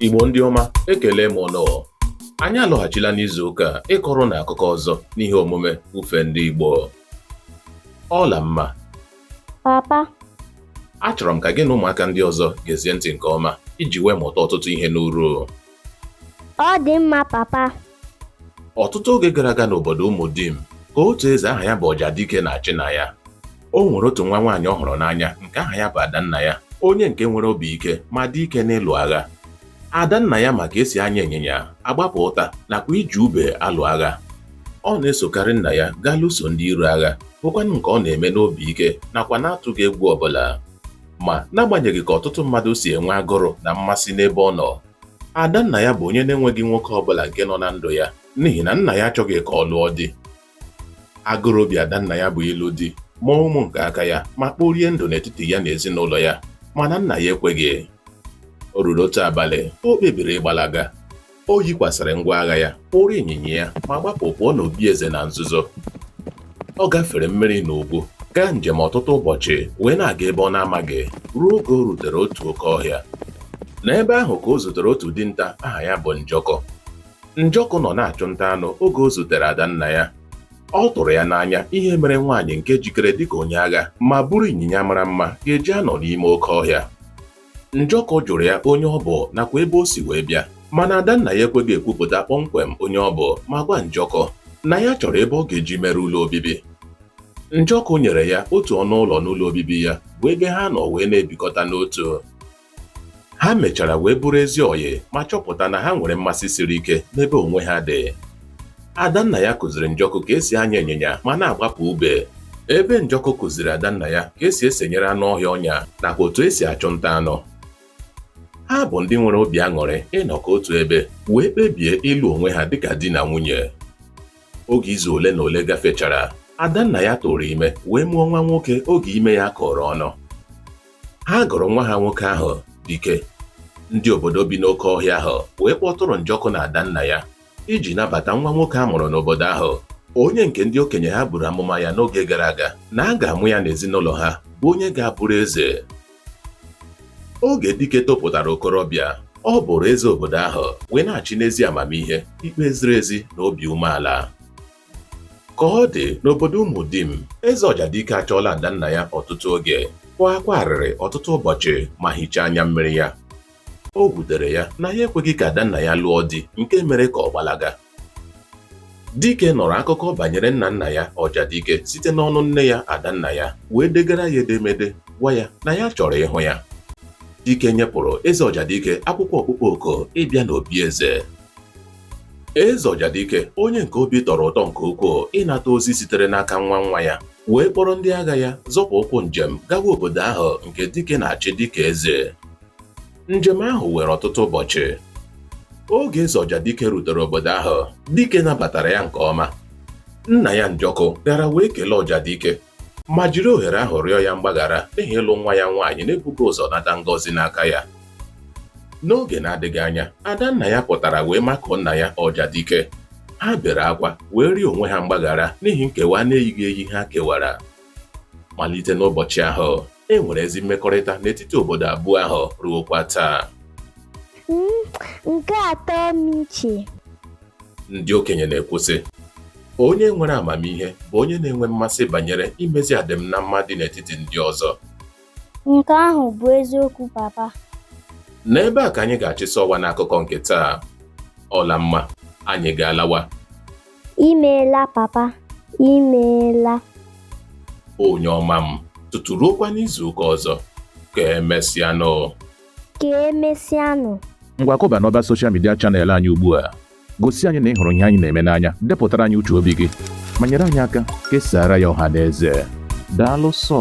Igbo ndị ọma ekele m ụnụ anyị alọghachila n'izu ụka a ịkọrọ ụnụ akụkọ ọzọ n'ihe omume ufe ndị Igbo Ọlamma papa achọrọ m ka gị na ụmụaka ndị ọzọ gezie ntị nke ọma iji wee mụta ọtụtụ ihe n'uru ọ dị mma papa ọtụtụ oge gara aga n'obodo Ụmụdim ka otu eze aha ya bụ Ọjadike na-achị na ya o nwere otu nwa nwaanyị ọ hụrụ n'anya nke aha ya bụ Adannaya onye nke nwere obi ike ma dị ike n'ịlụ agha Adannaya ma ka esi anya ịnyịnya agbapụ ụta nakwa iji ube alụ agha ọ na-esokarị nna ya gaa lụso ndị iro agha bụkwanụ nke ọ na-eme n'obi ike nakwa na-atụghị egwu ọbụla ma n'agbanyeghị ka ọtụtụ mmadụ si enwe agụrụ na mmasị n'ebe ọ nọ Adannaya bụ onye na-enweghị nwoke ọbụla nke nọ na ndụ ya n'ihi na nna ya achọghị ka ọ lụọ di. Agụrụ obi Adannaya bụ ịlụ di, mụọ ụmụ nke aka ya ma kporie ndụ n'etiti ya na ezinụlọ ya mana nna ya ekweghị. O ruru otu abalị, o kpebiri ịgbalaga. O yikwasịrị ngwa agha ya, kpụrụ ịnyịnya ya ma gbapụ pụọ n'obi eze na nzuzo. ọ gafere mmiri na ugwu gaa njem ọtụtụ ụbọchị wee na-aga ebe ọ na-amaghị ruo oge o rutere otu oke ọhịa n'ebe ahụ ka o zutere otu dinta aha ya bụ Njọkụ Njọkụ nọ na-achụ nta anụ oge o zutere Adannaya ọ tụrụ ya n'anya ihe mere nwaanyị nke jikere dịka onye agha ma buru ịnyịnya mara mma ga-eji anọ n'ime oke ọhịa Njọkụ jụrụ ya onye ọ bụ nakwa ebe o si wee bịa mana Adannaya ekweghị ekwupụta kpọmkwem onye ọ bụ ma gwa Njọkụ na ya chọrọ ebe ọ ga-eji mere ụlọ obibi. Njọkụ nyere ya otu ọnụ ụlọ n'ụlọ obibi ya bụ ebe ha nọ wee na-ebikọta n'otu. Ha mechara wee bụrụ ezi ọyị ma chọpụta na ha nwere mmasị siri ike n'ebe onwe ha dị. Adannaya kụziri Njọkụ ka esi anya ịnyịnya ma na-agbapụ ube. Ebe Njọkụ kụziri Adannaya ka esi esenyere anụ ọhịa ọnya nakwa otu esi achụ nta anụ. Ha bụ ndị nwere obi aṅụrị ịnọkọ otu ebe wee kpebie ịlụ onwe ha dịka di na nwunye. Oge izu ole na ole gafechara, Adannaya tụrụ ime wee mụọ nwa nwoke oge ime ya kọrọ ọnụ. Ha gụrụ nwa ha nwoke ahụ Dike. Ndị obodo bi n'oke ọhịa ahụ wee kpọtụrụ Njọkụ na Adannaya iji nabata nwa nwoke a mụrụ n'obodo ahụ onye nke ndị okenye ha buru amụma ya n'oge gara aga na a ga-amụ ya n'ezinụlọ ha bụ onye ga-abụrụ eze oge Dike topụtara okorobịa ọ bụrụ eze obodo ahụ wee na-achị n'ezi amamihe ikpe ziri ezi na obi umeala ka ọ dị n'obodo Ụmụdim eze Ọjadike achọọla Adannaya ọtụtụ oge kwa akwa arịrị ọtụtụ ụbọchị ma hichaa anya mmiri ya O wutere ya na ya ekweghị ka Adannaya lụọ di nke mere ka ọ gbalaga. Dike nụrụ akụkọ banyere nna nna ya Ọjadike site n'ọnụ nne ya Adannaya wee degara ya edemede gwa ya na ya chọrọ ịhụ ya. Dike nyepụrụ Eze Ọjadike akwụkwọ ọkpụkpọ oku ịbịa n'obi eze. Eze Ọjadike onye nke obi tọrọ ụtọ nke ukwuu ịnata ozi sitere n'aka nwa nwa ya wee kpọrọ ndị agha ya zọpụ ụkwụ njem gawa obodo ahụ nke Dike na-achị dịka eze. Njem ahụ were ọtụtụ ụbọchị. Oge eze Ọjadike rutere obodo ahụ, Dike nabatara ya nke ọma. Nna ya Njọkụ gara wee kelee Ọjadike ma jiri ohere ahụ rịọ ya mgbaghara n'ihi ịlụ nwa ya nwaanyị na-ebughị ụzọ nata ngọzi n'aka ya. N'oge na-adịghị anya, Adannaya pụtara wee makụọ nna ya Ọjadike. Ha bere akwa wee rịọ onwe ha mgbaghara n'ihi nkewa na-eyighị eyi ha kewara. Malite n'ụbọchị ahụ, e nwere ezi mmekọrịta n'etiti obodo abụọ ahụ ruokwa taa Mm, nke a tọ m iche ndị okenye na-ekwu sị onye nwere amamihe bụ onye na-enwe mmasị banyere imezi adịm na mma dị n'etiti ndị ọzọ nke ahụ bụ eziokwu papa n'ebe a ka anyị ga-achịsa ọwa n'akụkọ nke taa Ọlamma anyị ga-alawa imeela papa imeela onye ọma m tutu ruokwa n'izu ụka ọzọ ka emesịanụ ka emesịanụ ngwa kọba n'ọba soshal midia chanel anyị ugbu a gosi anyị na ị hụrụ ihe anyị na-eme n'anya depụtara anyị uche obi gị ma nyere anyị aka kesaara ya ọha na eze daalụ sọ